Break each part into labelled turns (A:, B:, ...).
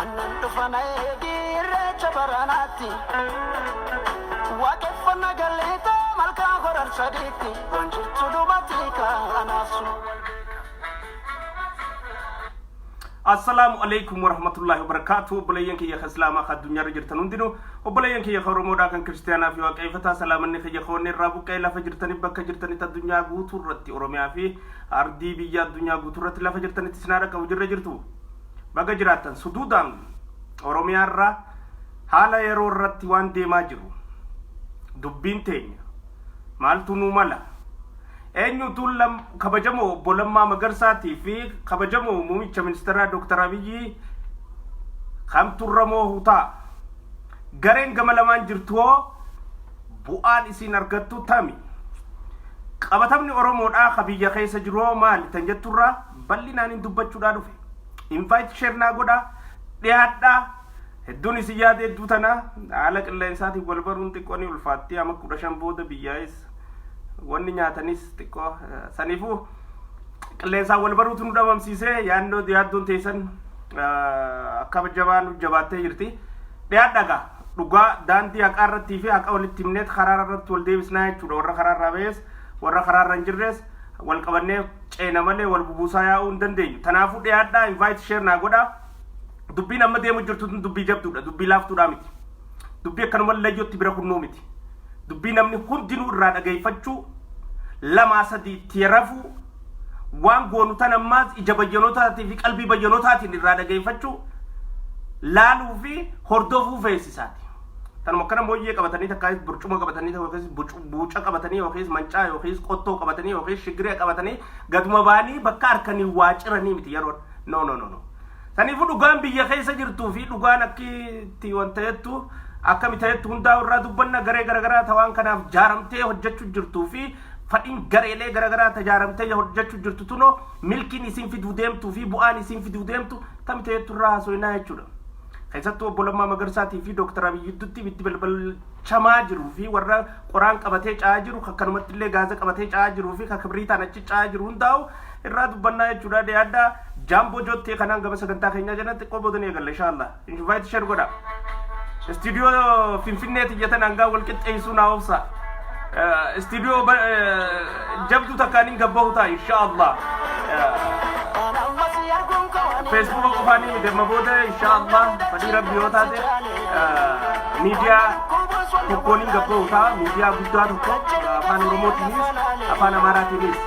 A: Annan dhufa na eegi irreecha baranaatti Waaqeffanna galleeta malkaa horar sadiitti Waan jirtu dubatii kaanaasu
B: Assalaamu alaikum warahmatullahi wabarakatuh obboleeyyan kiyya ka islaamaa ka addunyaarra jirtan hundinuu obboleeyyan kiyya ka oromoodhaa kan kiristiyaanaa fi waaqeeffataa salaamanni kiyya ka wanni irraa buqqa'e lafa jirtanii bakka jirtanitti addunyaa guutuu irratti oromiyaa fi Ardii biyya addunyaa guuturratti lafa jirtanitti isin haa dhaqqabu jirra jirtu baga jiraattan suduudaan Oromiyaa irraa haala yeroo irratti waan deemaa jiru dubbiin teenya maaltu nuu mala eenyutu lam kabajamoo obbo Lammaa Magarsaatii fi kabajamoo muumicha ministeeraa Dooktar Abiyyii kamtu irra moohu ta'a. Gareen gama lamaan jirtu hoo bu'aan isiin argattu tami? Qabatamni Oromoodhaa ka biyya keessa jiru hoo maali tan jetturraa bal'inaaniin dubbachuudhaa dhufe. Invite share naa godhaa, dhiyaadhaa. Hedduun isin yaada hedduu tana haala qilleensaatiin wal baruun xiqqoo ni ulfaatti amma kudha shan booda biyyaa'es wanni nyaatanis xiqqoo saniifuu qilleensaan wal baruutu nu dhabamsiisee yaadnoo yaaddoon teessan akka jabaa nu jabaattee jirti. Dhiyaadha egaa dhugaa daandii haqaa irrattii fi haqa walitti himneet karaa irratti wal deebisnaa jechuudha warra karaa irraa ba'ees warra karaa irra hin jirrees wal qabannee ceena malee wal bubuusaa yaa'uu hin dandeenyu. Kanaafuu dhiyaadhaa invite share naa godhaa. Dubbiin amma deemu jirtu tun dubbii jabduudha dubbii laaftuudhaa miti. Dubbii akkanuma layyootti bira kunnuu miti. Dubbii namni hundinuu irraa dhageeffachuu, lamaa sadii itti rafuu, waan goonu tan ammaas ija bayyanotaatii fi qalbii bayyanotaatiin irraa dhageeffachuu, laaluu fi hordofuu feesisaati. Tanuma akkana mooyyee qabatanii takkaayis burcuma qabatanii yookiis buuca qabatanii yookiis mancaa yookiis qottoo qabatanii yookiis shigiree qabatanii gaduma baanii bakka harkanii waa ciranii miti yeroon. No no no no. Saniifuu dhugaan biyya keessa jirtuu fi dhugaan akkitti waan ta'ettu akkami ta'ettu hundaa'u irraa dubbanna garee garaagaraa tawaan kanaaf jaaramtee hojjechuu jirtuu fi fadhiin gareelee garaagaraa tajaaramtee hojjechuu jirtu tunoo milkiin isin fiduu deemtuu fi bu'aan isin fiduu deemtu akkami ta'ettu irraa haasofnaa jechuudha. Keessattuu obbo Lammaa Magarsaatii fi Dooktar Abiyyi gidduutti ibiddi balbalchamaa jiruu fi warra qoraan qabatee ca'aa jiru akkanumatti illee gaaza qabatee ca'aa jiruu fi kan kibriitaan achi ca'aa jiru hundaa'u irraa dubbannaa jechuudha deeadda jaamboo jottee kanaan gama sagantaa keenyaa jalatti qoboodanii eegalla inshaalla invite share godha istiidiyoo finfinneeti jatan hangaa wal qixxeessuu naa obsa istiidiyoo jabduu takkaan hin gabbahu ta'a inshaalla feesbuuka qofaan hin damma booda inshaalla fadhii rabbi yoo taate miidiyaa tokkoon hin gabbahu ta'a miidiyaa guddaa tokko afaan oromoo tiinis afaan amaaraa tiinis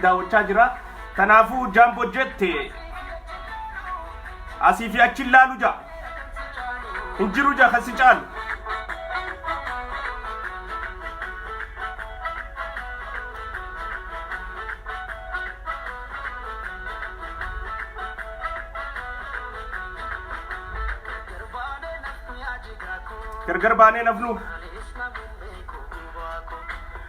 B: daawwachaa jira. Kanaafuu Jaamboo Jet asii fi achi laalu ja'a. Hin jiru ja'a kan si caalu. Gargar baanee nafnu.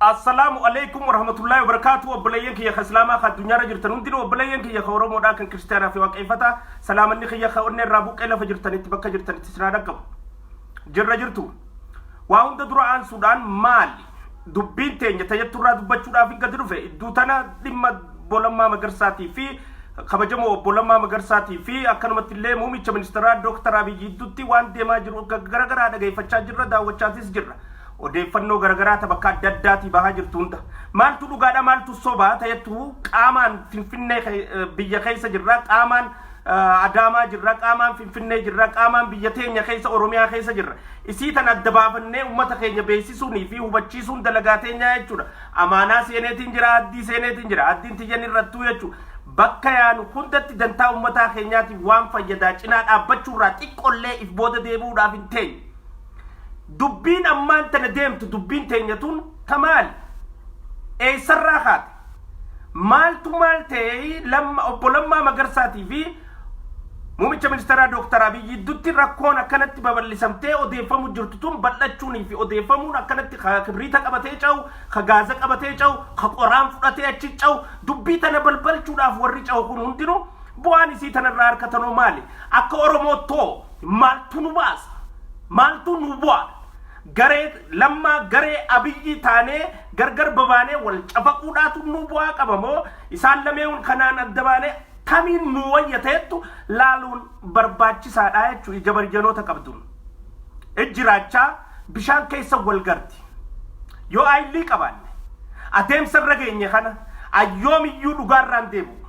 B: Assalaamu Aleykum Warahmatullaahi Wabarakaatu Obboleeyyan kiyya ka Islaamaa ka addunyaarra jirtan hundinuu obboleeyyan kiyya ka Oromoodhaa kan Kiristiyaanaa fi Waaqeeffata salaamanni kiyya ka onnee irraa buqqee lafa jirtanitti bakka jirtanitti isin haa dhaqqabu. Jirra jirtu. Waa hunda dura aansuudhaan maali? Dubbiin teenya tajattu irraa dubbachuudhaaf hin gadi dhufe idduu tana dhimma Bolammaa Magarsaatii fi kabajamoo obbo Lammaa Magarsaatii fi akkanumatti illee muumicha ministeeraa Dooktar Abiyyi gidduutti waan deemaa jiru garaagaraa dhageeffachaa jirra daawwachaatis jirra. Odeeffannoo garagaraa ta bakka adda addaatii bahaa jirtu hunda maaltu dhugaadha maaltu sobaa ta'etu qaamaan finfinnee ke- eh, biyya keessa jirra qaamaan eh, adaamaa jirra qaamaan finfinnee jirra qaamaan biyya teenya keessa oromiyaa keessa jirra isii tan adda baafannee ummata keenya beeksisuunii fi hubachiisuun dalagaa teenyaa jechuudha amaanaa seeneetiin jira addii seeneetiin jira addiin tiyyan irrattuu jechuudha bakka yaanu hundatti dantaa ummataa keenyaatiif waan fayyadaa cinaa dhaabbachuurraa xiqqollee if booda deebi'uudhaaf hin teenye Dubbiin ammaan tana deemtu dubbiin teenya tun ta maali? Eessarraa kaate? Maaltu maal ta'ee lamma obbo Lammaa Magarsaatii fi Muumicha ministeeraa Dooktar Abiy gidduutti rakkoon akkanatti babal'isamtee odeeffamu jirtu tun bal'achuunii fi odeeffamuun akkanatti ka kibriita qabatee cahu, ka gaaza qabatee cahu, ka qoraan fudhatee achi cahu, dubbii tana balbalchuudhaaf warri cahu kun hundinuu bu'aan isii tanarraa harkatan hoo maali? Akka Oromoottoo Maaltu nu baasa? Maaltu nu bu'a? Garee lammaa garee abiyyi taanee gargar babaanee wal cafaquudhaatu nu bu'aa qaba moo isaan lameeun kanaan adda baanee tamiin nu wayya ta'ettu laaluun barbaachisaadha jechu ija barjanoota qabduun. Ijji raachaa bishaan keessa wal garti. Yoo ayllii qabaanne adeemsa irra geenye kana ayyoomiyyuu dhugaarraan deebi'u.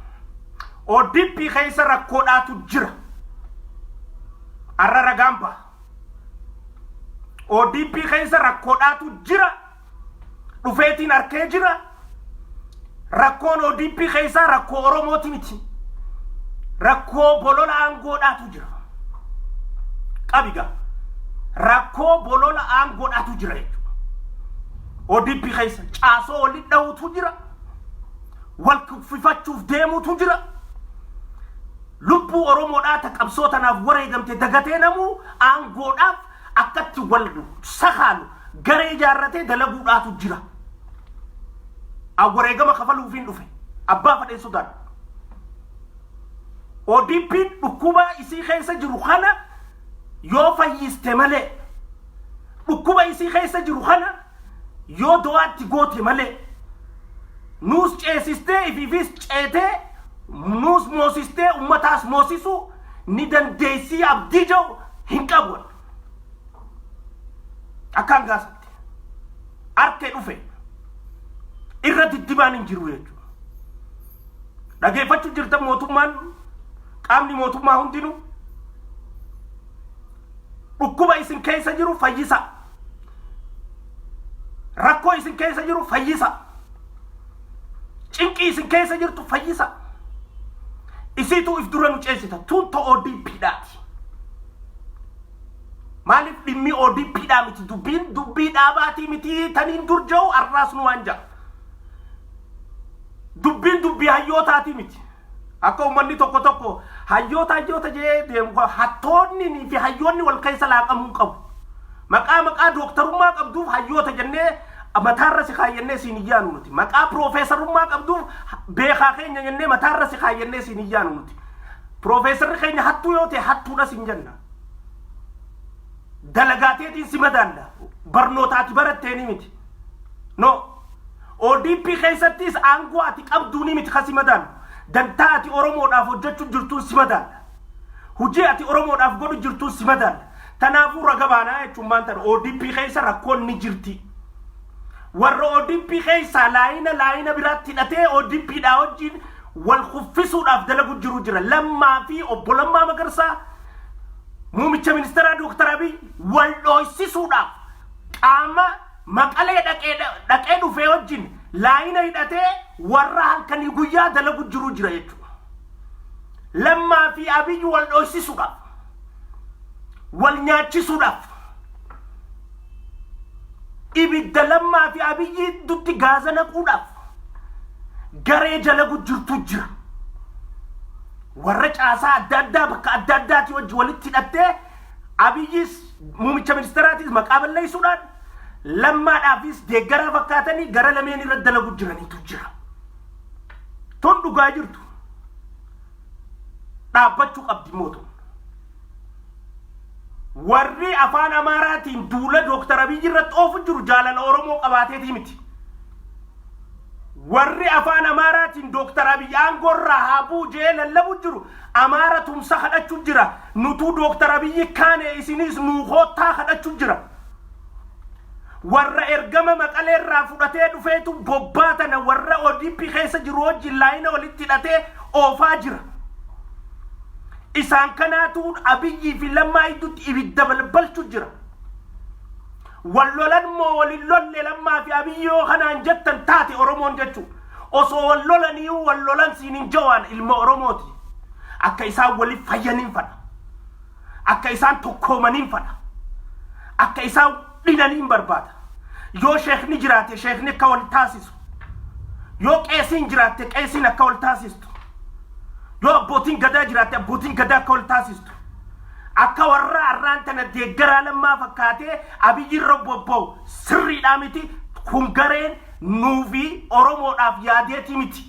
B: ODP keessa rakkoodhaatu jira. Arra ragaan ba'a. ODP keessa rakkoodhaatu jira. Dhufeetiin arkee jira. Rakkoon ODP keessaa rakkoo Oromooti miti. Rakkoo bolola aangoodhaatu jira. Qabiga. Rakkoo bolola aangoodhaatu jira jechuudha. ODP keessa caasoo walitti dha'uutu jira. wal kuffifachuuf deemuutu jira. Lubbuu Oromoodhaa ta qabsoo tanaaf wareegamte dagatee namuu aangoodhaaf akkatti wal sakaalu garee ijaarratee dalaguudhaatu jira. An wareegama kafaluufiin dhufe abbaa fadheen sodaadhu. ODPn dhukkubaa isii keessa jiru kana yoo fayyiste malee dhukkuba isii keessa jiru kana yoo du'aa itti goote malee nuus ceesistee ifiifis ceetee nuus moosistee ummataas moosisuu ni dandeessii abdii jedhu hin qabu akkaan gaasatti arte dhufe irra diddibaan hin jiru jechuudha. Dhageeffachuu jirtan mootummaan qaamni mootummaa hundinuu dhukkuba isin keessa jiru fayyisaa. Rakkoo isin keessa jiru fayyisa. Cinqii isin keessa jirtu fayyisa. Isiitu if dura nu ceesita. Tuun to ODP dhaati. Maaliif dhimmi ODP dhaa miti? Dubbiin dubbii dhaabaatii miti taniin dur jiru arraas nu waan ja'a. Dubbiin dubbii hayyootaatii miti. Akka uummanni tokko tokko hayyoota hayyoota jedhee deemu kun hattoonni fi hayyoonni wal keessa laaqamuu hin qabu. Maqaa maqaa dooktarummaa qabduuf hayyoota jennee mataarra si kaayyannee siin hin yaanu nuti. Maqaa piroofeesarummaa qabduuf beekaa keenya jennee mataarra si kaayyannee siin hin yaanu nuti. Piroofeesarri keenya hattuu yoo ta'e hattuudha siin jenna. Dalagaateetiin si madaalla. Barnootaati baratteeni miti. No. ODP keessattis aangoo ati qabduunii miti kan si madaalu. Dantaa ati Oromoodhaaf hojjechuu jirtuun si madaalla. Hujii ati Oromoodhaaf godhu jirtuun si madaalla. Tanaafuu raga baanaa jechuun maan tana ODP keessa rakkoon ni jirti. Warra ODP keessaa laayina laayina biraatti hidhatee ODP dhaa wajjin wal kuffisuudhaaf dalagu jiru jira. Lammaa fi obbo Lammaa Magarsaa muumicha ministeeraa Dooktar Abiy wal dhooysisuudhaaf qaama Maqalee dhaqee dhaqee dhufee wajjin laayina hidhatee warra halkanii guyyaa dalagu jiru jira jechuudha. Lammaa fi Abiyyi wal dhoysisuudhaaf, wal nyaachisuudhaaf, ibidda lammaa fi Abiyyi dutti gaaza naquudhaaf garee dalagu jirtu jira. Warra caasaa adda addaa bakka adda addaati wajji walitti hidhattee Abiyyis muumicha ministeeraatiis maqaa balleessuudhaan lammaadhaafis deeggaraa fakkaatanii gara lameen irra dalagu jiranitu jira. Tun dhugaa jirtu. Dhaabbachuu qabdi mootummaa. Warri afaan Amaaraatiin duula Dooktar Abiyyi irratti oofu jiru jaalala Oromoo qabaateetii miti. warri afaan amaaraatiin dooktar abiy aangoo irraa haa bu'u jee lallabu jiru amaara tumsa kadhachu jira nutuu dooktar abiyyi kaane isiniis nuu koottaa kadhachu jira warra ergama maqalee irraa fudhatee dhufeetu bobbaa tana warra odp keessa jiru wajjin laayina walitti hidhatee oofaa jira isaan kanaatu abiyyii fi lammaa iddutti ibidda balbalchu jira Wal lolan moo wal hin lolle Lammaa fi Abiy yoo kanaan jettan taate Oromoon jechuu. Osoo wal lolaniiyuu wal lolan siinin Jawaan ilma Oromooti. Akka isaan waliif fayyaniin fadha. Akka isaan tokkoomaniin fadha. Akka isaan dhinaniin barbaada. Yoo sheekni jiraate sheekni akka wal taasisu. Yoo qeesiin jiraatte qeesiin akka wal taasistu. Yoo abbootiin gadaa jiraatte abbootiin gadaa akka wal taasistu. jirtu. Akka warra arraan tana deeggaraa lammaa fakkaatee abiyyi irra bobba'u sirriidhaa miti kun gareen nuufi Oromoodhaaf yaadeetii miti.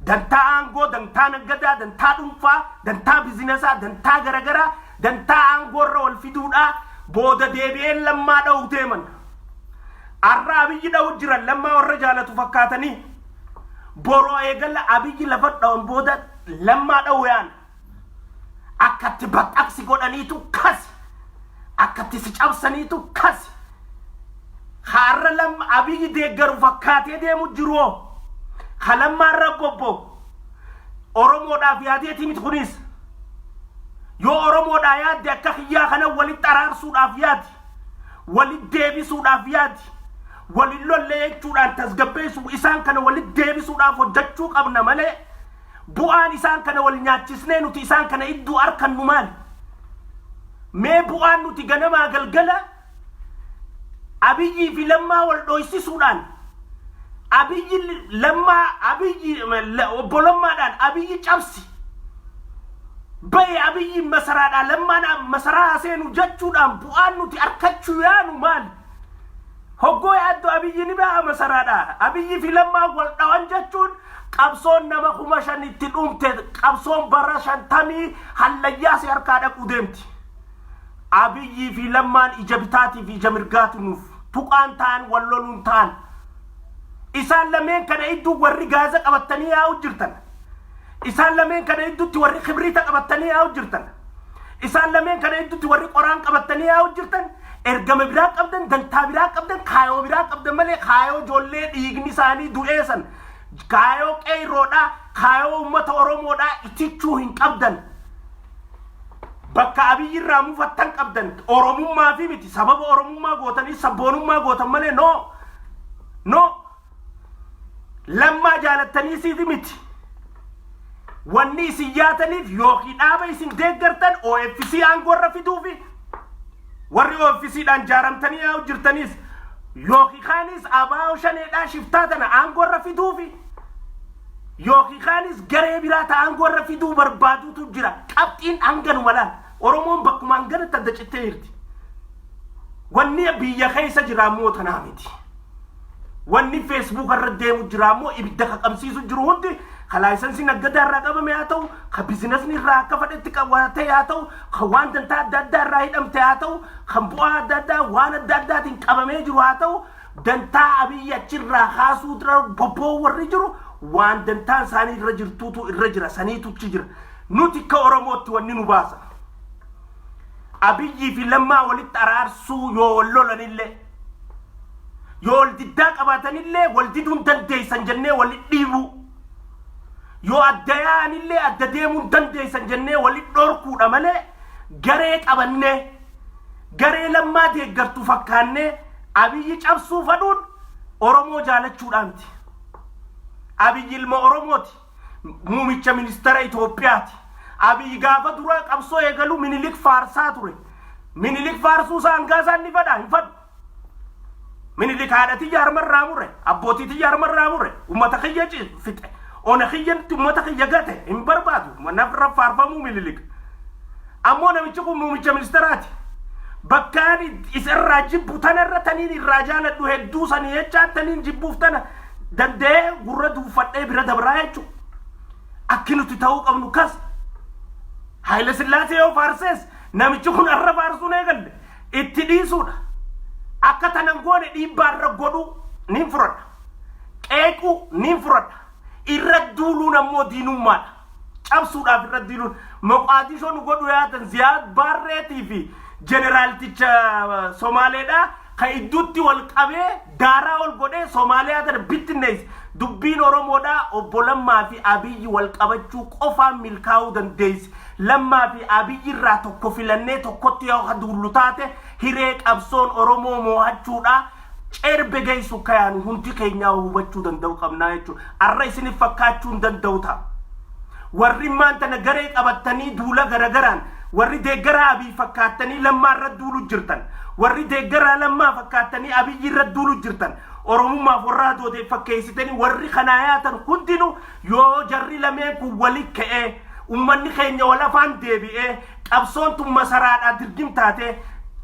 B: Dantaa aangoo, dantaa naggadaa, dantaa dhuunfaa, dantaa bizinesaa, dantaa garagaraa, dantaa aangoo irra wal fiduudhaa booda deebi'een lammaa dha'u deeman. Arra abiyyi dha'u jiran lammaa warra jaalatu fakkaatanii boroo eegala abiyyi lafa dha'an booda lammaa dha'u yaana. akkatti baqqaqsi godhaniitu kasi akkatti si cabsaniitu kasi haarra lam abiyyi deeggaru fakkaatee deemu jiruoo ka lammaan rabbobbo oromoodhaaf yaadeetii miti kunis yoo oromoodhaa yaadde akka kiyyaa kana walitti araarsuudhaaf yaadi walitti deebisuudhaaf yaadi waliin lolle jechuudhaan tasgabbeessu isaan kana walitti deebisuudhaaf hojjechuu qabna malee Bu'aan isaan kana wal nyaachisnee nuti isaan kana idduu arkannu maali? Mee bu'aan nuti ganamaa galgala Abiyyii fi Lammaa wal dhooysisuudhaan Abiyyi Lammaa Abiyyi obbo Lammaadhaan Abiyyi cabsi baye Abiyyiin masaraadhaa Lammaan masaraa haseenu jechuudhaan bu'aan nuti arkachuu yaanu maali? Hoggoo yaaddu Abiyyi ni ba'a masaraadhaa Abiyyi fi Lammaan wal dhawan jechuun Qabsoon nama kuma shan itti dhumte qabsoon bara shantamii hallayyaa si harkaa dhaquu deemti. Abiyyii fi Lammaan ija bitaatii fi ija mirgaatu nuuf. Tuqaan ta'an wal loluun ta'an. Isaan lameen kana idduu warri gaaza qabattanii yaa'u jirtan. Isaan lameen kana idduutti warri kibriita qabattanii yaa'u jirtan. Isaan lameen kana hedduutti warri qoraan qabattanii yaa'u jirtan ergama biraa qabdan, dantaa biraa qabdan, kaayoo biraa qabdan malee kaayoo ijoollee dhiigni isaanii du'ee san kaayoo qeeyroodhaa, kaayoo uummata Oromoodhaa itichuu hin qabdan. Bakka abiyyi irraa mufattan qabdan Oromummaa fi miti sababa Oromummaa gootanii sabboonummaa gootan malee noo noo Lammaa jaalattanii siif miti. Wanni isin yaataniif yookiin dhaaba isin deeggartan OFC aangoo irra fiduu fi warri OFC dhaan jaaramtanii yaa jirtanis yookiin kaanis abaa'oo shaneedhaa shiftaa tana aangoo irra fiduu fi yookiin kaanis garee biraa ta aangoo irra fiduu barbaaduutu jira. Qabxiin hanganuma laal. Oromoon bakkuma hanganatti adda cittee jirti. Wanni biyya keessa jiraa immoo tanaa miti. Wanni Facebook irra deemu jiraa immoo ibidda qaqabsiisu jiru hundi ka laayisansiin aggadaa irraa qabame haa ta'u, ka bizinasni irraa akka fadhetti qabatee haa ta'u, ka waan dantaa adda addaa irraa hidhamte haa ta'u, kan bu'aa adda addaa waan adda addaatiin qabamee jiru haa ta'u, dantaa abiyyi achirraa kaasuu dura bobboo warri jiru waan dantaan isaanii irra jirtuutu irra jira saniitu achi jira. Nuti akka Oromootti wanni nu baasa. Abiyyii fi Lammaa walitti araarsuu yoo wal lolanillee yoo wal diddaa qabaatanillee wal diduun dandeessan jennee wal dhiibuu yoo adda yaa'anillee adda deemuun dandeessan jennee wal dhorkuudha malee garee qabannee garee lammaa deeggartu fakkaannee abiyyi cabsuu fadhuun Oromoo jaalachuudhaanti. Abiyyi ilma Oromooti. Muumicha ministara Itoophiyaati. Abiy gaafa duraa qabsoo eegalu Minilik faarsaa ture. Minilik faarsuu isaa hangaa isaan ni fadha hin fadhu. Minilik haadha tiyya harma irraa mure, abbootii tiyya harma irraa mure, uummata kiyya ci- fixe, ona kiyyatti uummata kiyya gate hin barbaadu. Naf irra faarfamuu Minilik. Ammoo namichi kun muumicha ministaraati. Bakkaan isarraa jibbu tanarra taniin irraa jaaladhu hedduu sanii jechaa taniin jibbuuf tana danda'ee gurra duuffadhee bira dabraa jechuudha. Akki nuti ta'uu qabnu kas. Haayila Sillaasee yoo faarsees namichi kun arra faarsuun eegalle itti dhiisuudha. Akka tanan goone dhiibbaa irra godhuu niin fudhadha. Qeequu niin fudhadha. Irra duuluun ammoo diinummaadha. cabsuudhaaf irra diiluun Moqaadishoo nu godhu yaatan Ziyaad Baarreetii fi jeneraalticha Somaaleedha ka idduutti wal qabee daaraa ol godhee Somaaliyaa tana bittinneessi. Dubbiin Oromoodha obbo Lammaa fi Abiyyi wal qabachuu qofaan milkaa'uu dandeessi. Lammaa fi Abiyyi irraa tokko filannee tokkotti yoo duullu taate hiree qabsoon Oromoo moohachuudha. Cerbbe geessu ka yaalu hundi keenyaa hubachuu danda'u qabnaa jechuudha. Arra isinif fakkaachuu hin danda'u ta'a. Warri immaan tana garee qabattanii duula garagaraan warri deeggaraa Abiy fakkaattanii lammaa irra duulu jirtan. Warri deeggaraa lammaa fakkaattanii Abiyyi irra duulu jirtan. Oromummaaf warra hadoodeef fakkeessitanii warri kanaa yaatan hundinuu Yoo jarri lameen kun wali ka'ee ummanni keenya wal afaan deebi'ee qabsoon tun masaraadhaa dirgim taatee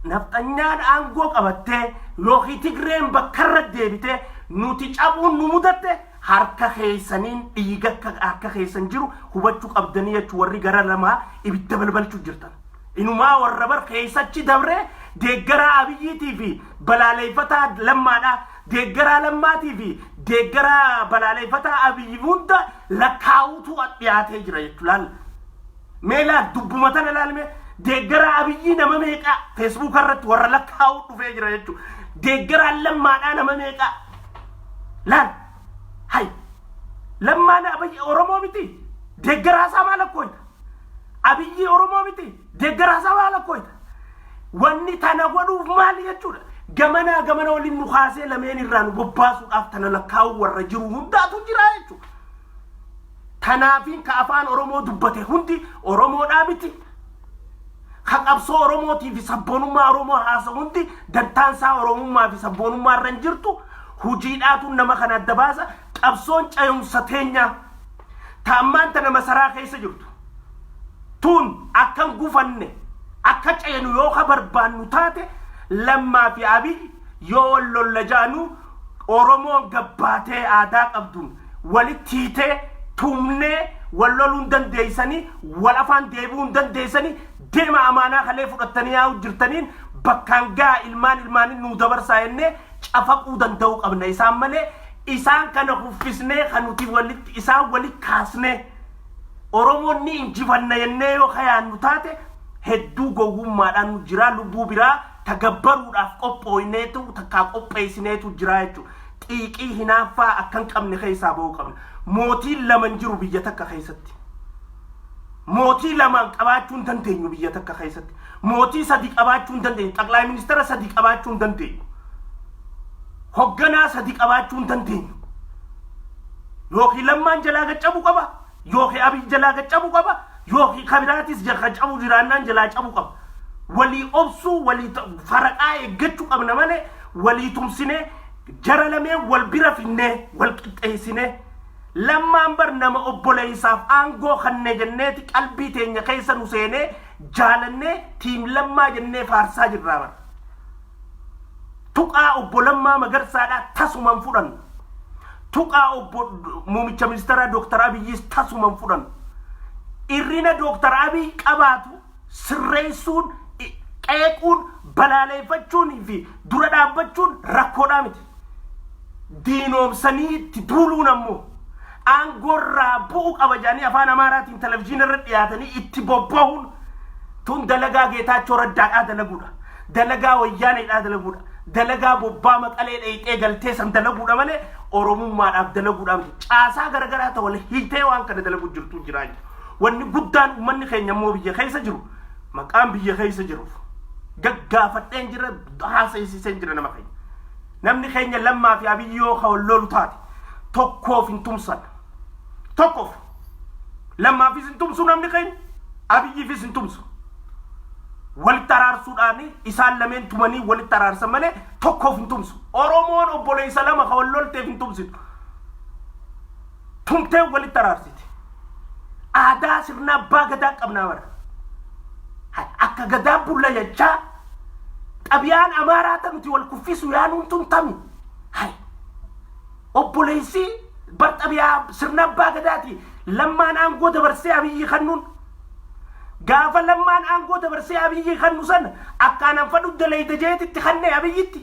B: nafxanyaan aangoo qabattee yookiin Tigreen bakkarra deebitee nuti cabuun nu mudatte harka keessaniin dhiiga akka harka keessan jiru hubachuu qabdanii jechu warri gara lamaa ibidda balbalchuu jirtan. Inumaa warra bar keessachi dabree deeggaraa abiyyiitii fi balaaleeffataa lammaadhaa Deeggaraa Lammaatii fi deeggaraa balaaleeffataa Abiyyi hunda lakkaa'uutu dhiyaatee jira jechuudha. Laal. Mee laal dubbuma tana laal mee deeggaraa Abiyyii nama meeqaa feesbuuka irratti warra lakkaa'uu dhufee jira jechuudha. Deeggaraan lammaadhaa nama meeqaa laal. Hay. Lammaan Abiyyi Oromoo miti. Deeggaraa isaa maal akkooyi? Abiyyii Oromoo miti deeggaraa sabaa lakkoyta. Wanni tana godhuuf maali jechuudha. Gamanaa gamana waliin nu kaasee lameen irraa nu bobbaasuudhaaf tana lakkaa'uu warra jiru hundaatu jira jechuudha. Tanaafiin ka afaan Oromoo dubbate hundi Oromoodhaa miti. Ka qabsoo Oromootii fi sabboonummaa Oromoo haasa hundi dantaansaa Oromummaa fi sabboonummaa irra hin jirtu. Hojiidhaatu nama kana adda baasa. Qabsoon cayumsa teenyaa. ta ammaan tana masaraa keessa jirtu tun akkan gufanne akka ceenu yoo ka barbaannu taate lammaa fi abiy yoo wal lolla jaanu oromoon gabbaatee aadaa qabduun walitti hiitee tumnee wal loluun dandeeysanii wal afaan deebi'uun dandeeysanii deema amaanaa kalee fudhattanii yaa'u jirtaniin bakkaan gaha ilmaan ilmaanin nuu dabarsaa jennee cafaquu danda'uu qabna. Isaan malee isaan kana kuffisnee kan nuti walitti isaan walitti kaasnee Oromoon ni injifanna jennee yoo kayaannu taate hedduu gowwummaadhaan nu jiraa lubbuu biraa tagabbaruudhaaf qophooyneetu takkaa qopheessineetu jiraa jechuudha. Xiiqii hinaaffaa akkan qabne keessaa ba'uu qabna. Mootiin lama hin jiru biyya takka keessatti. Mootii lamaan qabaachuu hin dandeenyu biyya takka keessatti. Mootii sadi qabaachuu hin dandeenyu. Xaqlaay ministeera sadi qabaachuu hin dandeenyu. Hogganaa sadi qabaachuu hin dandeenyu. Yookiin lammaan jalaa gad cabu qaba. Yookiin abiy jalaa gad cabu qaba. Yookiin kabiraatis jalaa cabu jiraannaan jalaa cabu qaba. Walii obsuu walii ta- faraqaa eeggachuu qabna malee walii tumsinee jara lamee wal bira finnee wal qixxeessinee lammaan bar nama obboleessaaf aangoo kanne jenneeti qalbii teenya keessa nu seenee jaalannee tiim lammaa jennee faarsaa jirraa bara. Tuqaa obbo Lammaa Magarsaadhaa tasuman fudhan. Tuqaa obbo Muumicha Ministeeraa Dooktar Abiyyis tasuman fudhan. Irrina Dooktar Abiy qabaatu sirreessuun, qeequun, balaaleeffachuun fi dura dhaabbachuun rakkoodhaa miti. diinoomsanii itti duuluun ammoo aangoorraa bu'u qaba jedhanii afaan amaaraatiin televizyiina irra dhiyaatanii itti bobba'uun tun dalagaa geetaachoo raddaadhaa dalaguudha dalagaa wayyaaneedhaa dalaguudha dalagaa bobbaa maqalee dheeyxee galtee san dalaguudha malee oromummaadhaaf dalaguudha miti caasaa garagaraa ta'u wal hiitee waan kana dalaguu jirtu jiraa jiru wanni guddaan uummanni keenya immoo biyya keessa jiru maqaan biyya keessa jiruuf gaggaafadheen jira haasa'isiiseen jira nama keenya. Namni keenya lammaa fi abiyyi yoo ka wal loolu taate tokkoof hin tumsan. Tokkoof. Lammaafis hin tumsu namni keenya abiyyiifis hin tumsu. Walitti araarsuudhaan isaan lameen tumanii walitti araarsan malee tokkoof hin tumsu. Oromoon obboleessa lama ka wal lolteef hin tumsitu. tumtee walitti araarsiti. Aadaa sirna abbaa gadaa qabnaa bara. Hay, Akka gadaa bulla jechaa xabiyaan amaaraa ta nuti wal kuffisu yaanuun tun tami. Hay, Obboleessi bar xabiyaa sirna abbaa gadaati lammaan aangoo dabarsee abiyyi kannuun. Gaafa lammaan aangoo dabarsee abiyyi kannu san akkaan anfadhu dalayda jeetitti kannee abiyyitti.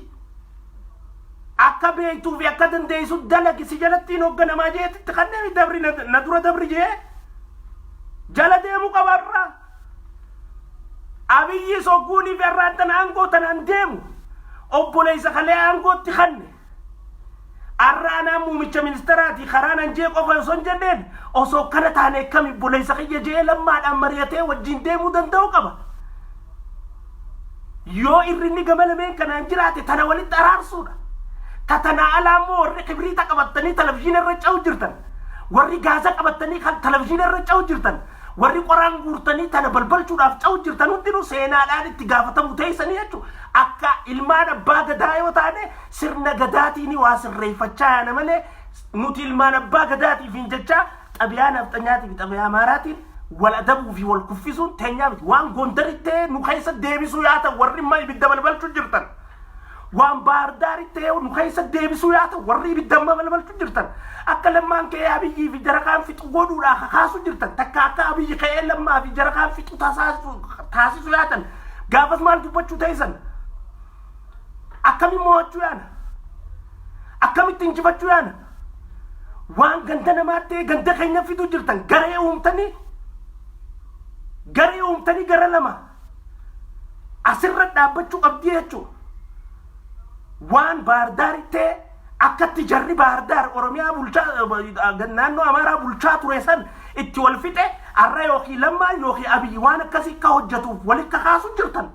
B: Akka beektuu fi akka dandeessu dalagi si jalatti hin hogganamaa jeetti itti kanneen dabri na na dura dabri jee jala deemu qaba irraa. Abiyyi sogguunii fi irraan tana aangoo tanaan deemu obboleessa kalee aangootti kanne. Arra anaa muumicha ministeeraati karaa nan jee qofa osoo hin jenneen osoo kana taane akkami obboleessa kiyya jee lammaadhaan mari'atee wajjin deemuu danda'u qaba. Yoo irrinni gama lameen kanaan jiraate tana walitti araarsuudha. Ta tanaa alaa immoo warri kibriita qabattanii televizyiina irra ce'u jirtan. Warri gaaza qabattanii kan televizyiina irra ce'u jirtan. Warri qoraan guurtanii tana balbalchuudhaaf ce'u jirtan hundinuu seenaadhaan itti gaafatamu teessanii jechuudha. Akka ilmaan abbaa gadaa yoo taane sirna gadaatiin waa sirreeffachaa yaana malee nuti ilmaan abbaa gadaatiif hin jechaa Xabiyaa nafxanyaatii fi xabiyaa amaaraatiin wal adabuu fi wal kuffisuun teenyaa miti. Waan Gondaritti ta'e nu keessa deebisuu yaa ta'u warri immoo ibidda balbalchuu jirtan. Waan Baardaaritti ta'e nu keessa deebisuu yaa ta'u warri ibidda amma balbalchuu jirtan. Akka lammaan ka'ee abiyyii fi jarakaan fixu godhuudhaa kakaasuu jirtan. Takka akka abiyyi ka'ee lammaa fi jarakaan fixu taasisuu yaatan. Gaafas maal dubbachuu teessan? Akkamiin mo'achuu yaana? Akkamitti injifachuu yaana? waan ganda namaa ta'e ganda keenya fiduu jirtan garee uumtanii garee uumtanii gara lama asirra dhaabbachuu qabdii jechuudha. waan baardaari ta'e akkatti jarri baardaar oromiyaa bulchaa eh, naannoo amaaraa bulchaa ture san itti wal fixe arra yookiin lammaan yookiin abiyyi waan akkasii akka hojjetuuf walitti kaasu jirtan.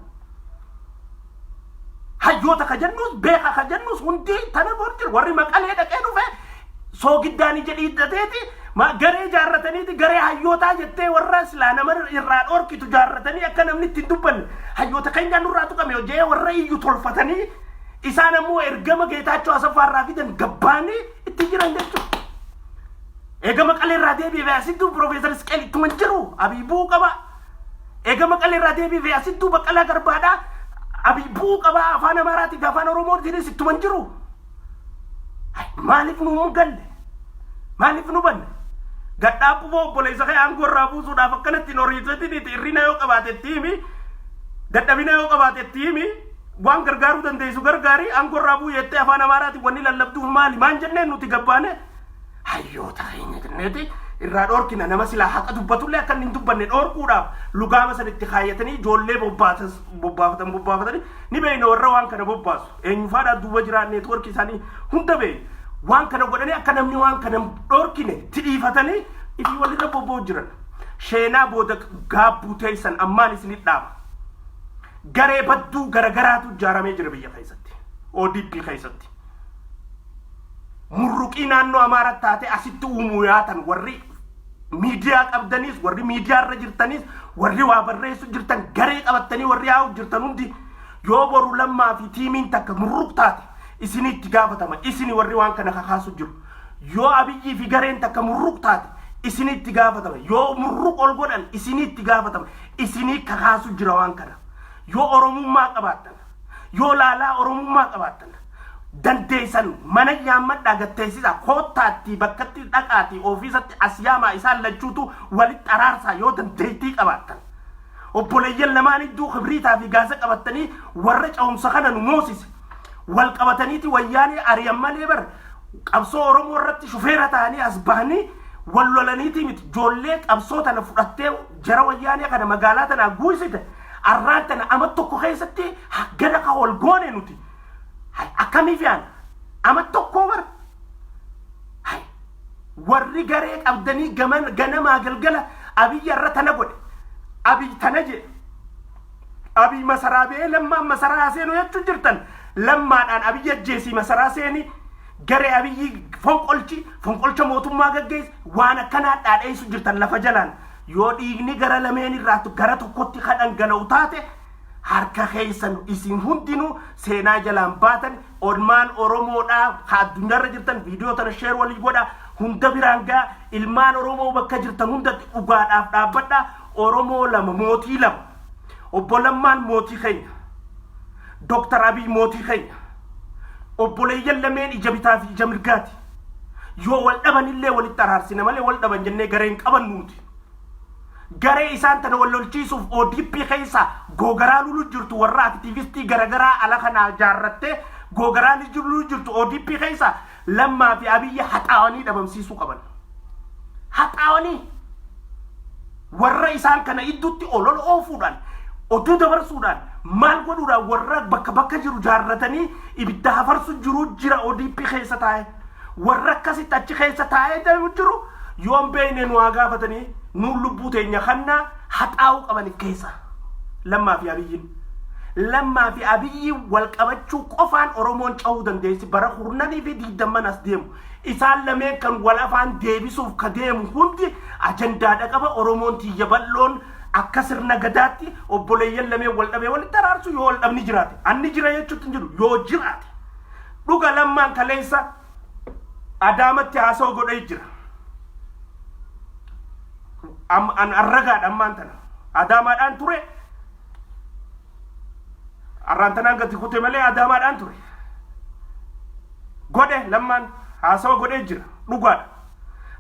B: Hayyoota ka jennuus beeka ka jennuus hundi tana bor jiru warri maqalee dhaqee dhufe soogiddaanii jedhii hidhateeti ma garee jaarrataniiti garee hayyootaa jettee warra silaa nama irraa dhoorkitu jaarratanii akka namni itti hin dubbanne hayyoota keenyaa nurraa tuqame hojjee warra iyyu tolfatanii isaan ammoo ergama geetaachoo asaffaa irraa fidan gabbaanii itti jiran jechuudha. Eega maqalee irraa deebi'ee asitti Piroofeesar Isqeel ittuma hin jiru abiibuu qaba. Eega Maqalee irraa deebiifee asittuu Baqqalaa Garbaadhaa Abiy bu'uu qabaa afaan Amaaraatii fi afaan Oromootiinis ittuma hin jiru. Ay, Maaliif nu hin galle? Maaliif nu banne? Gadhaabbu boo obboleessa kee aangoo irraa buusuudhaaf akkanatti hin horiiseetiin itti hirrina yoo qabaate itti himi. Dadhabina yoo qabaate itti himi. Waan gargaaruu dandeessu gargaari aangoo irraa bu'u jettee afaan Amaaraatiin wanni lallabduuf maali? Maan jenneen nuti gabbaane? hayyoota keenya jenneeti irraa dhoorkina nama silaa haqa dubbatullee akka inni hin dubbanne dhoorkuudhaaf lugaama san itti kaayyatanii ijoollee bobbaatas- bobbaafatan bobbaafatanii ni beeyna warra waan kana bobbaasu eenyufaadhaa duuba jiraa neetwoorkii isaanii hunda beeyna waan kana godhanii akka namni waan kana hin dhoorkine itti dhiifatanii ifii walirra bobba'u jiran sheenaa booda gaabbuu teeysan ammaan isinit dhaaba garee badduu garagaraatu ijaaramee jira biyya keessatti ODP keessatti murruqii naannoo Amaara taatee asitti uumuu yaatan warri miidiyaa qabdaniis warri miidiyaa irra jirtaniis warri waa barreessu jirtan garee qabattanii warri haa'u jirtan hundi yoo boru lammaa fi tiimiin takka murruq taate isinii itti gaafatama isini warri waan kana kakaasu jiru yoo abiyyii fi gareen takka murruq taate isinii itti gaafatama yoo murruq ol godhan isinii itti gaafatama isinii kakaasu jira waan kana yoo oromummaa qabaattan Yoo laalaa Oromummaa qabaattan dandeessan mana yaammadhaa gatteessisaa koottaattii bakkatti dhaqaatii ofiisatti as yaamaa isaan lachuutu walitti araarsaa yoo dandeettii qabaattan. Obboleeyyan lamaan idduu kibriitaa fi gaasa qabattanii warra cehumsa kana nu moosise wal qabataniiti wayyaanee ari'an malee bar qabsoo Oromoo irratti shufeera ta'anii as bahanii wal lolaniitii miti joollee qabsoo tana fudhattee jara wayyaanee kana magaalaa tanaa guuysite Arraan tana ama tokko keessatti haggana ka wal goone nuti. Hay akkamii fe'an? Ama tokkoo bar. Hay warri garee qabdanii gaman ganamaa galgala Abiy arra tana godhe. Abiy tana jedhe. Abiy masaraa ba'ee lammaan masaraa haa seenu jechuu jirtan. Lammaadhaan Abiy ajjeesii masaraa seenii garee Abiyyii fonqolchi fonqolcha mootummaa gaggeessi waan akkanaa dhaadheessu jirtan lafa jalaan. Yoo dhiigni gara lameen irraatu gara tokkotti ka dhangala'u taate harka keessan isin hundinuu seenaa jalaan baatan olmaan Oromoodhaa ka addunyaarra jirtan viidiyoo tana sheer walii godha hunda biraan gaa ilmaan Oromoo bakka jirtan hundatti dhugaadhaaf dhaabbadha Oromoo lama mootii lama obbo Lammaan mootii keenya Dooktar Abiy mootii keenya obboleeyyan lameen ija bitaa fi ija mirgaati. Yoo wal dhaban illee walitti araarsina malee wal dhaban jennee garee hin qaban nuuti. Garee isaan tana wal lolchiisuuf ODP keessa googaraa lulu jirtu warra aktiivistii garagaraa ala kanaa jaarrattee googaraa ni jiru lulu jirtu ODP keessa lammaa fi abiyyi haxaawanii dhabamsiisuu qaban. Haxaawanii! Warra isaan kana iddutti olola oofuudhaan, oduu dabarsuudhaan, maal godhuudhaan warra bakka bakka jiru jaarratanii ibidda hafarsu jiru jira ODP keessa taa'e. Warra akkasitti achi keessa taa'ee deemu jiru yoon beekne nu haa gaafatanii nuun lubbuu teenya kannaa haxaa'uu qabanif keessa. Lammaa fi Abiyyiin. Lammaa fi Abiyyiin wal qabachuu qofaan Oromoon cahuu dandeessi bara kurnanii fi digdamman as deemu. Isaan lameen kan wal afaan deebisuuf ka deemu hundi ajandaadha qaba. Oromoon tiyya bal'oon akka sirna gadaatti obboleeyyan lameen wal dhabee walitti araarsu yoo wal dhabni jiraate. Anni jira jechuutti hin jiru yoo jiraate. Dhuga lammaan kaleessa adaamatti haasoo godhee jira. Am- An arragaadha ammaan tana. Adaamaadhaan ture Arraan tanaan gati kute malee adaamaadhaan ture. Godhe lammaan haasawa godhee jira. Dhugaadha.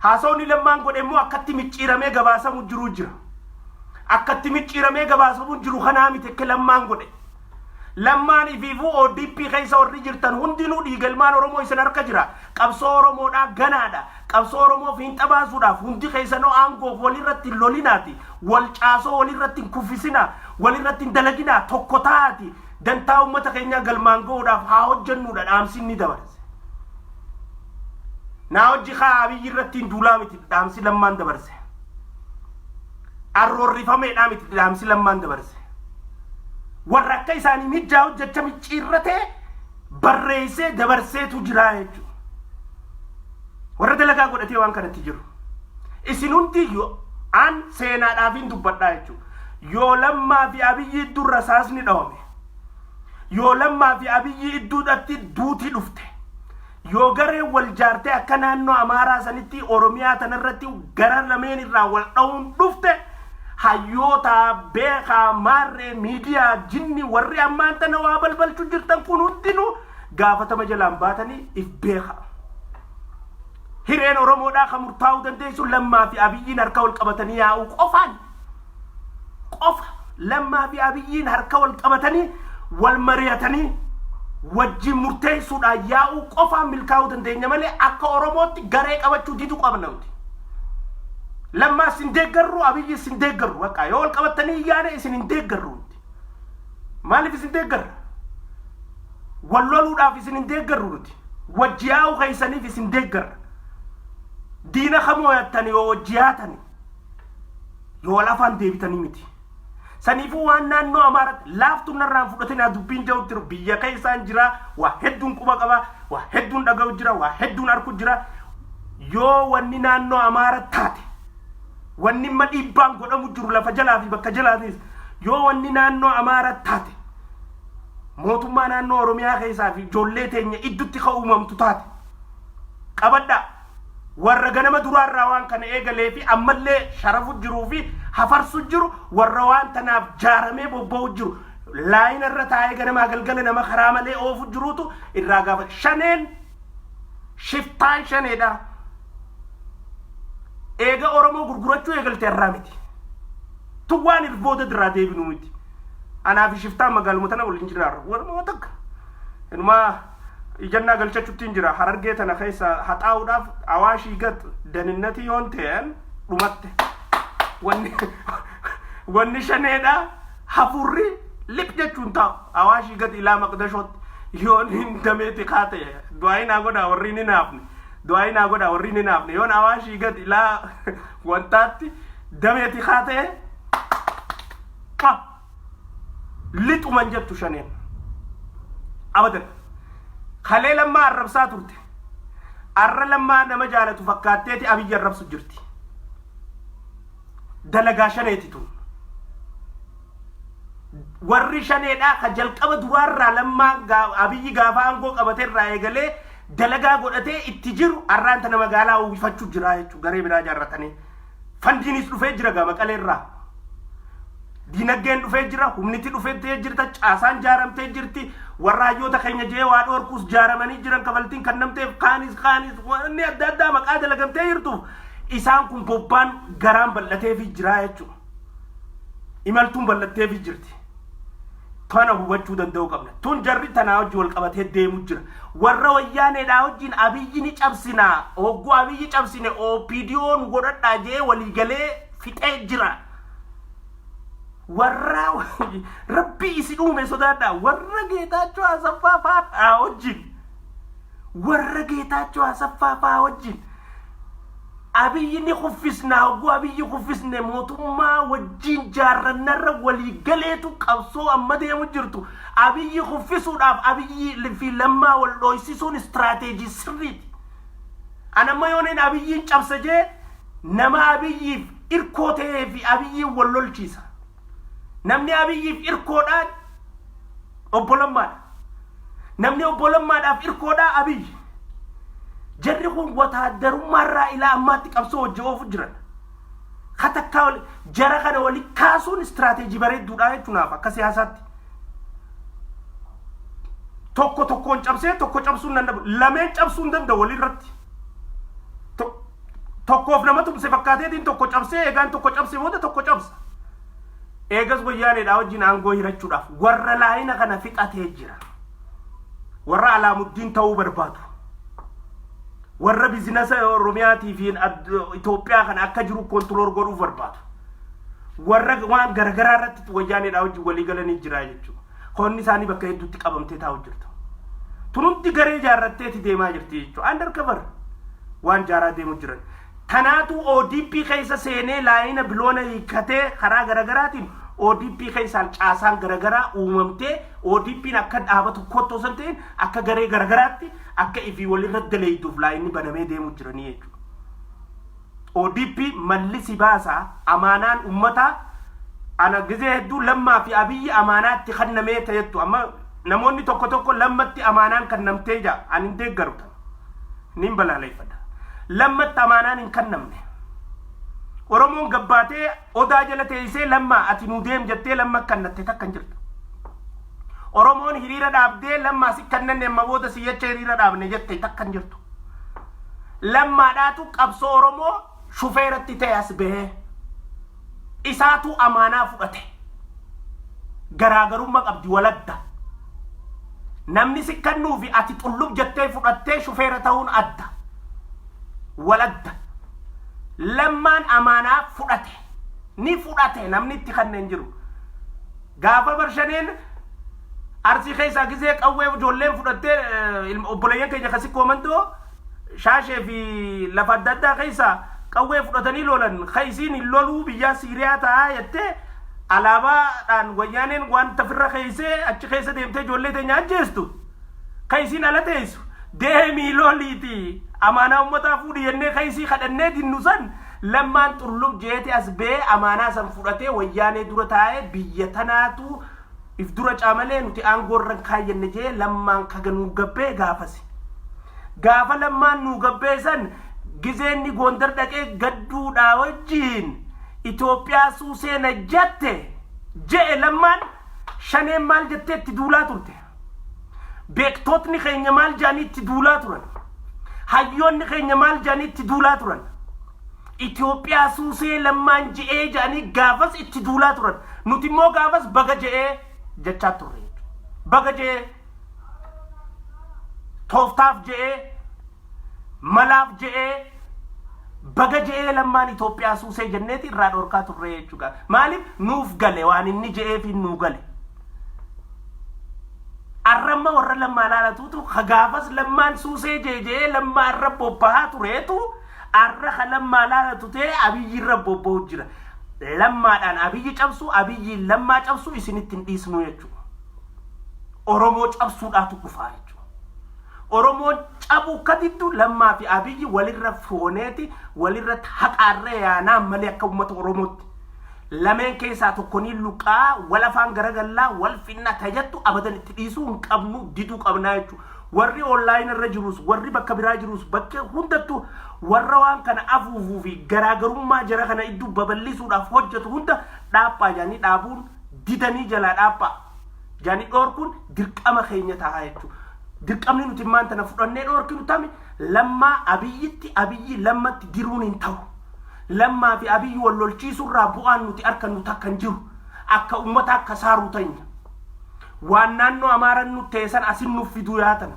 B: Haasawni lammaan godhe immoo akkatti micciiramee gabaasamu jiru jira. Akkatti micciiramee gabaasamu jiru kanaa miti akka lammaan godhe. Lammaan ifiifuu ODP keessa warri jirtan hundinuu dhiigalmaan Oromoo isin harka jira. Qabsoo Oromoodhaa ganaadha. Qabsoo Oromoo fiinxa baasuudhaaf hundi keessanoo aangoof walirratti hin lolinaati, wal caasoo walirratti hin kuffisinaa, walirratti hin dalaginaa, tokko ta'aati dantaa uummata keenyaa galmaan ga'uudhaaf haa hojjennuudha dhaamsi inni dabarse. Naa hojji kaa Abiyyi irratti hin duulaa miti dhaamsi Lammaan dabarse. Arroorrifameedhaa miti dhaamsi Lammaan dabarse. Warra akka isaanii mijjaa hojjecha micciirratee barreessee dabarseetu jiraa jechuudha. Warra dalagaa godhatee waan kanatti jiru. Isin hundiyyu an seenaadhaafiin dubbadhaa jechuudha. Yoo lammaa fi abiyyi idduu rasaasni dhawame. Yoo lammaa fi abiyyi idduudhatti duuti dhufte. Yoo gareen wal jaartee akka naannoo Amaaraa sanitti Oromiyaa tanarratti gara lameen irraa wal dhawuun dhufte Hayyoota, beekaa, maarree, miidiyaa, jinni warri ammaan tana waa balbalchu jirtan kun hundinuu gaafatama jalaan baatanii if beekaa. Hireen Oromoodhaa kan murtaa'uu dandeessu Lammaa fi Abiyyiin harka wal qabatanii yaa'uu qofaan. Qofa. Lammaa fi Abiyyiin harka wal qabatanii wal mari'atanii wajjin murteessuudhaan yaa'uu qofaan milkaa'uu dandeenya malee akka Oromootti garee qabachuu didu qabna nuti. Lammaa sin deeggarru Abiyyi sin deeggarru bakka yoo wal qabattanii iyyaane isin hin deeggarru nuti. Maaliif isin deeggarra? Wal loluudhaaf isin hin deeggarru nuti. Wajji yaa'uu keessaniif isin deeggarra. Diina kamoo yattani yoo wajji yaatani yoo wal afaan deebitanii miti. Saniifuu waan naannoo Amaaraatti laaftuun narraan fudhatinaa dubbiin ja'utti jiru biyya keessaan jira, waa hedduun quba qaba, waa hedduun dhaga'u jira, waa hedduun arku jira. Yoo wanni naannoo Amaara taate, wanni imma dhiibbaan godhamu jiru lafa jalaa fi bakka jalaatiis, yoo wanni naannoo Amaara taate, mootummaa naannoo Oromiyaa keessaa fi ijoollee teenya iddutti ka uumamtu taate, qabadhaa! Warra ganama duraarraa waan kana eegalee fi ammallee sharafu jiruu fi hafarsu jiru warra waan tanaaf jaaramee bobba'u jiru laayina irra taa'ee ganamaa galgala nama karaa malee oofu jiruutu irraa gaafa shaneen shiftaan shaneedha. Eega Oromoo gurgurachuu eegalte irraa miti. Tun waan irboota irraa deebinu miti. Anaa fi shiftaan magaaluma tana waliin jiraarra. Walumaa takka. Inumaa ijannaa galchachuttiin jira harargee tana keessa haxaa'uudhaaf awaashii gat daninnatii yoon ta'een dhumatte wanni wanni shaneedha hafurri lip jechuun taa'u awaashii gat ilaa maqdashootti yoon hin dameeti kaa ta'e du'aayi naa godhaa warri ni naafne du'aayi naa godhaa warri ni naafne yoon awaashii gat ilaa wantaatti dameeti kaa ta'e lixuman jettu shaneen abadan kalee lammaa arrabsaa turte arra lammaa nama jaalatu fakkaatteeti abiyyi arrabsu jirti dalagaa shaneeti tun warri shaneedhaa ka jalqaba duraarraa lammaa gaa- abiyyi gaafa aangoo qabaterraa eegalee dalagaa godhatee itti jiru arraanta nama gaalaa uwwifachuu jiraa jechuu garee biraa jaarratanii Fandiinis dhufee jira gaa Maqalee irraa. Diinaggeen dhufee jira, humniti dhufettee jirta, caasaan jaaramtee jirti, warra hayyoota keenya jee waa dhoorkuus jaaramanii jiran kafaltiin kannamteef kaanis kaanis wanni adda addaa maqaa dalagamtee jirtuuf isaan kun bobbaan garaan bal'ateefii jiraa jechuudha. Imaltuun bal'atteefii jirti. Kana hubachuu danda'uu qabna. Tun jarri tanaa hojii wal qabatee deemu jira. Warra wayyaaneedhaa hojiin abiyyi ni cabsina. Hogguu abiyyi cabsine OPDO nu godhadhaa jee walii galee fixee jira. Warra rabbi isin uume sodaadhaa. Warra geetaachoo asaffaa faadhaa hojiin. Warra geetaachoo asaffaa faa hojiin. Abiyyi ni kuffisna hogguu Abiyyi kuffisne mootummaa wajjiin jaarrannarra walii galeetu qabsoo amma deemu jirtu Abiyyi kuffisuudhaaf Abiyyi fi Lammaa wal dhooysisuun istiraateejii sirriiti. An amma yoonin Abiyyiin cabsa jee nama Abiyyiif irkoo ta'ee fi Abiyyiin wal lolchiisa. Namni Abiyyiif irkoodhaa obbo Lammaadha. Namni obbo Lammaadhaaf irkoodhaa Abiyyi. Jarri kun wataaddarummaarraa ilaa ammaatti qabsoo hojii oofu jiran. Ka takkaa wali- jara kana wali kaasuun istiraateejii bareedduudha jechuun naaf akka siyaasaatti. Tokko tokkoon cabsee tokko cabsuun danda'u. Lameen cabsuun danda'u walirratti. tokkoof nama tumse fakkaateetiin tokko cabsee eegaan tokko cabse booda tokko cabsa. Eegas wayyaaneedhaa wajjin aangoo hirachuudhaaf warra laayina kana fixatee jira. Warra alaamuddiin ta'uu barbaadu. Warra bizinasa Oromiyaatii fi Itoophiyaa kana akka jiru kontirool godhuu barbaadu. Warra waan garagaraa irratti wayyaaneedhaa wajjin walii galanii jira jechuudha. Koonni isaanii bakka hedduutti qabamtee taa'u jirtu. Tun hundi garee jaarratteeti deemaa jirti jechuudha. Under cover waan jaaraa deemu jiran. Tanaatu ODP keessa seenee laayina biloona hiikkatee karaa garagaraatiin ODP keessaan caasaan garagaraa uumamtee ODPn akka dhaaba tokkootti osoo hin ta'in akka garee garagaraatti akka ifii walirra daleeyduuf laayinni banamee deemu jiranii jechuudha. ODP malli si baasa amaanaan ummataa ana gizee hedduu lammaa fi abiyyi amaanaa itti kannamee ta'ettu amma namoonni tokko tokko lammatti amaanaan kannamtee jaa an hin deeggaru tan niin balaaleeffadha lammatti amaanaan hin kannamne oromoon gabbaatee Odaa jala teessee lammaa ati nuu deem jettee lamma akkannatte takka hin jirtu. Oromoon hiriira dhaabdee lammaa si kannanne amma booda si jecha hiriira dhaabne jette takka hin jirtu. Lammaadhaatu qabsoo Oromoo shufeeratti ta'e as bahee. Isaatu amaanaa fudhate. Garaagarummaa qabdi waladda. Namni si kannuu fi ati xullub jettee fudhattee shufeera ta'uun adda. waladda lammaan amaanaa fudhate ni fudhate namni itti kanne hin jiru gaafa barshaneen arsii keessaa gisee qawwee ijoolleen fudhattee eh, ilma- obboleeyyan keenya kasi koomandoo shaashee fi lafa adda addaa keessaa qawwee fudhatanii lolan ka isiin hin loluu biyyaa siiriyaa ta'aa jettee alaabaadhaan wayyaaneen waan tafirra keessee achi keessa deemtee ijoollee teenya ajjeestu. ka isiin ala teessu deemii loliiti amaanaa ummataa fuudhi jennee ka isii kadhannee dinnu san lammaan xurlub jeete as bee amaanaa san fudhatee wayyaanee dura taa'ee biyya tanaatu if dura caamalee nuti aangoorran kaayyanne jee lammaan kaga nuu gabbee gaafasi gaafa lammaan nuu gabbee san gizeenni goondar dhaqee gadduudhaa wajjiin Itoophiyaa suusee na jatte je'e lammaan shaneen maal jetteetti duulaa turte. Beektootni keenya maal jedhanii itti duulaa turan? Hayyoonni keenya maal jedhanii itti duulaa turan? Itoophiyaa suusee lammaan je'ee jedhanii gaafas itti duulaa turan. Nuti immoo gaafas baga je'ee jechaa turre. Baga je'ee tooftaaf je'ee Malaaf je'ee baga je'ee lammaan Itoophiyaa suusee jenneeti irraa dhorkaa turree jechuudha. Maaliif nuuf gale waan inni je'eefiin nuu gale. Arramma warra lammaa laalatuutu ka gaafas lammaan suusee jeejee lammaa irra bobbahaa tureetu arra ka lammaa laalatu ta'e abiyyi irra bobbahu jira. Lammaadhaan abiyyi cabsu abiyyiin lammaa cabsu isinitti hin dhiisnu jechuudha. Oromoo cabsuudhaatu dhufaa jechuudha. Oromoon cabuu akka diddu Lammaa fi Abiyyi walirra fooneeti walirratti haqaarree yaanaa malee akka uummata Oromootti. Lameen keessaa tokkonii luqaa wal afaan garagallaa wal finna tajattu abadan itti dhiisuu hin qabnu diduu qabnaa jechuudha. Warri online irra jirus warri bakka biraa jirus bakka hundattu warra waan kana afuufuu fi garaagarummaa jara kana idduu babal'isuudhaaf hojjetu hunda dhaaphaa jedhanii dhaabuun didanii jalaa dhaaphaa. Jani dhorkuun dirqama keenya ta'a jechuudha. Dirqamni nuti immaan tana fudhannee dhorkinu tami lammaa abiyyitti abiyyi lammatti diruun hin ta'u. Lammaa fi abiyyi wal lolchiisurraa bu'aan nuti arkannu takka hin jiru. Akka ummata akka saaruu tanya. Waan naannoo amaaran nutti teessan asin nuuf fiduu yaatan.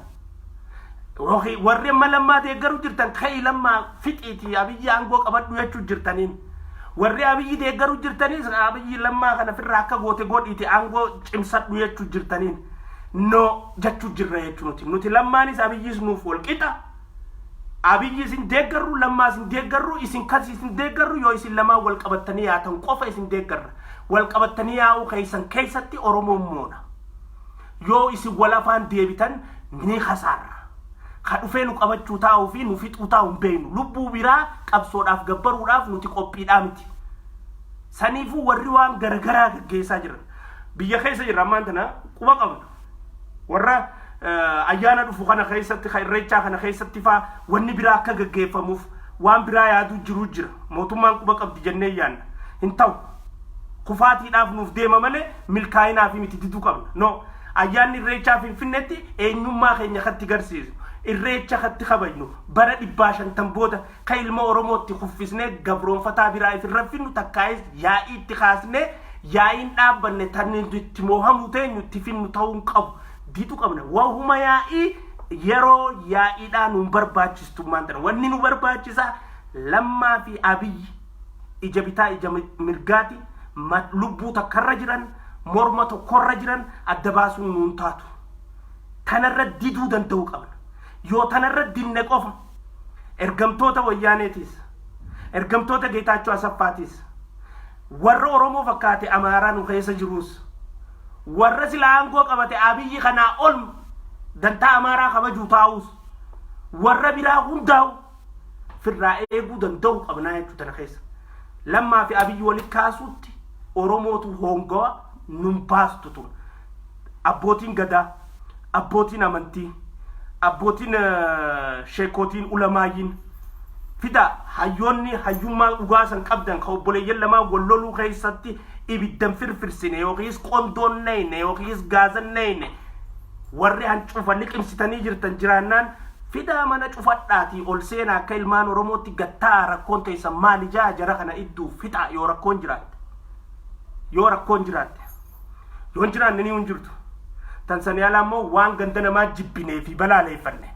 B: Yookiin warri amma lammaa deeggaru jirtan ka'ii lammaa fixiiti abiyyi aangoo qabadhu jechuu jirtaniin. Warri abiyyi deeggaru jirtanis abiyyi lammaa kana firraa akka goote godhiiti aangoo cimsadhu jechuu jirtaniin. No jechuu jirra jechuu nuti. Nuti lammaanis abiyyis nuuf wal qixa. Abiyyi isin deeggarru lammaa isin deeggarru isin kasi isin deeggarru yoo isin lamaan wal qabattanii yaatan qofa isin deeggarra. Wal qabattanii yaa'uu keessan keessatti Oromoon moona. Yoo isin wal afaan deebitan ni kasaarra. Ka dhufee nu qabachuu taa'uu fi nu fixuu taa'u hin beeknu. Lubbuu biraa qabsoodhaaf gabbaruudhaaf nuti qophiidhaa miti. Saniifuu warri waan garagaraa gaggeessaa jiran. Biyya keessa jirra ammaan tana quba qabna. Warra eh, ayyaana dhufu kana keessatti, ka irreechaa kana keessatti faa wanni biraa akka gaggeeffamuuf waan biraa yaaduu jiruu jira. Mootummaan quba qabdi jennee yaanna. Hin ta'u. Kufaatiidhaaf nuuf deema malee milkaa'inaa fi miti diduu qabna. No. Ayyaanni Irreechaa Finfinneetti eenyummaa keenya katti garsiisu, Irreecha katti kabajnu, bara dhibbaa shantan booda ka ilma Oromootti kuffisnee gabroonfataa biraa if hin raffinnu takkaayis yaa'ii itti kaasnee yaa'iin dhaabbanne tan itti moohamuu teenyu itti finnu ta'uu hin qabu. Didu qabna. Wahuma yaa'ii yeroo yaa'iidhaa nun barbaachistummaan tana. Wanni nu barbaachisaa Lammaa fi Abiyyi. ija bitaa ija mirgaati lubbuu takkarra jiran morma tokkorra jiran adda baasuun nuun taatu tanarra diduu danda'u qabna yoo tanarra dinne qofa ergamtoota wayyaaneetiis ergamtoota geetaachoo asaffaatiis warra oromoo fakkaate amaaraa nu keessa jiruus warra sila aangoo qabate abiyyi kanaa ol dantaa amaaraa kabajuu taa'uus warra biraa hundaa'u firraa eeguu danda'uu qabnaa jechuu tana keessa. Lammaa fi abiyyi walitti kaasuutti Oromootu hoongawa nun baastu tun. Abbootiin gadaa, abbootiin amantii, abbootiin eh, sheekootiin ulamaayyiin fida hayyoonni hayyummaa dhugaa san qabdan ka obboleeyyan lamaa wal loluu keessatti ibiddan firfirsine yookiis qondoon neyne yookiis gaazan neyne Warri hancufa liqimsitanii jirtan jiraannaan fidaa mana cufadhaatii ol seenaa akka ilmaan Oromootti gad ta'aa rakkoon teessan maali ja'a jara kana idduu fixaa yoo rakkoon jiraatte. Yoo rakkoon jiraatte. Yoo hin jiraanne ni hin jirtu. Tan sanii alaa immoo waan ganda namaa jibbinee fi balaaleeffanne.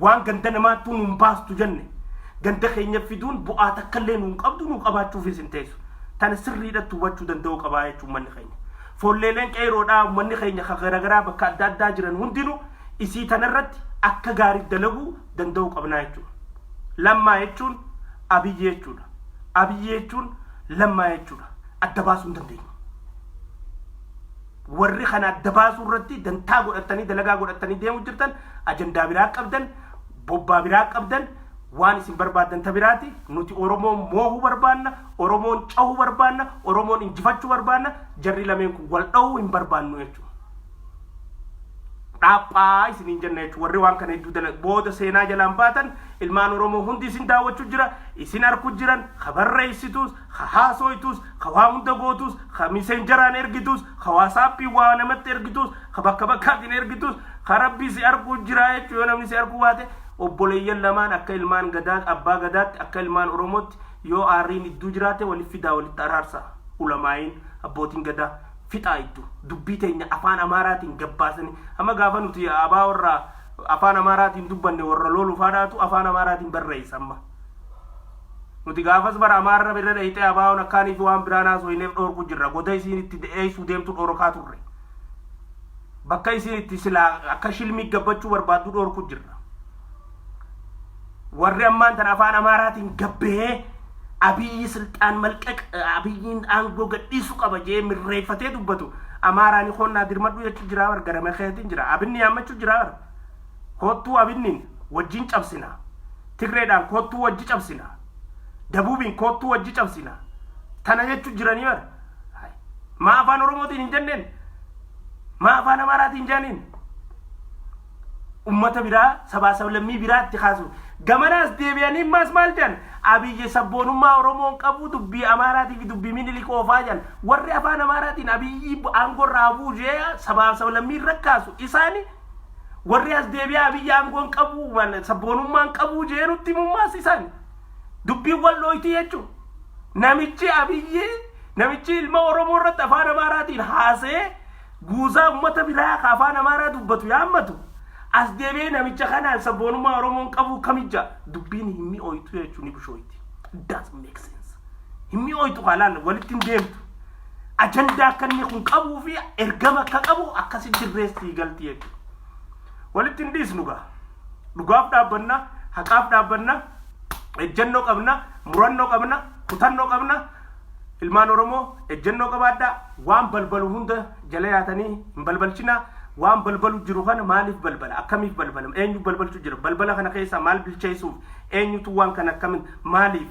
B: Waan ganda namaattuu nuun baastu jenne. Ganda keenya fiduun bu'aa takkallee nuun qabdu nuu qabaachuufis hin teessu. Tana sirriidhatti hubachuu danda'uu qabaa jechuun manni keenya. Foolleeleen Qeeyroodhaa ummanni keenya ka garagaraa bakka adda addaa jiran hundinuu isii tana irratti akka gaariitti dalaguu danda'uu qabnaa jechuudha. Lammaa jechuun Abiyyi jechuudha. Abiyyi jechuun Lammaa jechuudha. Adda baasuu hin dandeenyu. Warri kana adda baasuu irratti dantaa godhattanii dalagaa godhattanii deemu jirtan ajandaa biraa qabdan, bobbaa biraa qabdan, Waan isin barbaaddan ta biraati, nuti Oromoon moohuu barbaanna, Oromoon cahuu barbaanna, Oromoon injifachuu barbaanna, jarri lameen kun wal dhowuu hin barbaannu jechu. Dhaaphaa isiniin jenna jechu. Warri waan kana hedduu dala booda seenaa jalaan baatan ilmaan Oromoo hundi isin daawwachu jira, isin arku jiran, habarreessituus, ka haasoytuus, ka waa hunda gootuus, ka misenjaraan ergituus, ka waasaappiin waa namatti ergituus, ka bakka bakkaatiin ergituus, ka Rabbi si arguu jiraa jechuu yoo namni si arguu baate, obboleeyyan lamaan akka ilmaan gadaa abbaa gadaatti, akka ilmaan Oromootti yoo aarriin idduu jiraate wali fidaa walitti araarsaa. Ulamaa'iin, abbootiin gadaa, fixaa iddu. Dubbii teenya afaan Amaaraatiin gabbaasanii, amma gaafa nuti abaa warra afaan Amaaraatiin dubbanne warra loolu faadhaatu afaan Amaaraatiin barreeysa amma. Nuti gaafas bara Amaarra birra dheyxee Abaawoon akkaanii fi waan biraan haasoyneef dhoorku jirra. Goda isiin itti de'eysuu deemtu dhoorokaa turre. Bakka isiin itti silaa akka shilmii gabbachuu barbaaddu dhoorku jirra. Warri ammaan tan afaan Amaaraatiin gabbahee Abiyyi silxaan malqaq Abiyyiin aangoo gadhiisu qaba jee mirreeyfatee dubbatu Amaaraani koonnaa dirmadhu jechuu jiraa bar garame keetiin jira. Abinni yaammachu jiraa bar. Koottuu Abinniin wajjin cabsinaa. Tirreedhaan koottuu wajji cabsina. Dabuubiin koottuu wajji cabsina. Tana jechu jiranii bar. Maa afaan Oromootiin hin jenneen? Maa afaan Amaaraatiin jaaniin? Ummata biraa sabaa sablammii biraatti kaasu. Gamanaas deebi'anii maas maal jan? Abiyyi sabboonummaa Oromoon qabu dubbii Amaaraatii fi dubbii Minilik oofaa jan. Warri afaan Amaaraatiin Abiyyi aangorraa buusee sabaa sablammii irra kaasu isaani Warri as deebi'aa abiyyi aangoon qabu waan sabboonummaan qabu jeerutti mummaas isaan dubbiin wal dhooyti jechuun namichi abiyyi namichi ilma Oromoo irratti afaan Amaaraatiin haasee guusaa uummata biraa ka afaan Amaaraa dubbatu yaammatu as deebi'ee namicha kanaan sabboonummaa Oromoon qabu kamija dubbiin hin mi'ooytu jechuun ni bushooyti. It doesn't make sense. Hin mi'ooytu kaa laalla walitti hin deemtu. ajandaa akka inni kun qabuu fi ergama akka qabu akkasi dirreessi galti jechuudha. Walitti hin dhiisnu gaa. Dhugaaf dhaabbanna, haqaaf dhaabbanna, ejjennoo qabna, murannoo qabna, kutannoo qabna. Ilmaan Oromoo ejjennoo qabaadhaa waan balbalu hunda jala yaatanii hin balbalchinaa. Waan balbalu jiru kana maaliif balbala? Akkamiif balbala? Eenyu balbalchu jira? Balbala kana keessaa maal bilcheessuuf? Eenyutu waan kana akkamiin maaliif?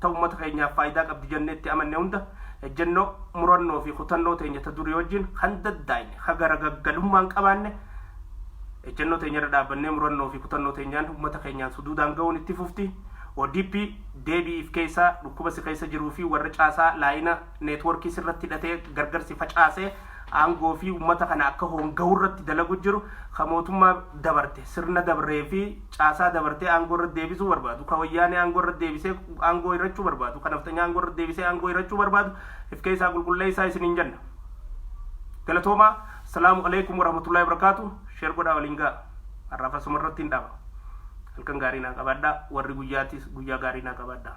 B: ta ummata keenyaaf faayidaa qabdi jannee itti amanne hunda ejjennoo, murannoo fi kutannoo teenya ta durii wajjin kan daddaayne, ka garagaggalummaa hin qabaanne, ejjennoo teenya irra dhaabbannee murannoo fi kutannoo teenyaan ummata keenyaan suduudaan ga'uun itti fufti. ODP, deebi'iif keessaa, dhukkuba si keessa jiruu fi warra caasaa laayina, networkii sirratti hidhatee gargarsi facaasee aangoo fi ummata kana akka hoonga'uu irratti dalagu jiru ka mootummaa dabarte sirna dabree fi caasaa dabartee aangoo irratti deebisuu barbaadu ka wayyaanee aangoo irratti deebisee aangoo hirachuu barbaadu ka nafxanyaa aangoo irratti deebisee aangoo hirachuu barbaadu if keessaa qulqulleessaa isiniin jenna galatoomaa salaamu alaikum warahmatullahi wabarakaatu sheer godhaa waliin ga'a har'aaf asuma irratti hin dhaaba halkan gaarii naa qabaadhaa warri guyyaatiis guyyaa gaarii naa qabaadhaa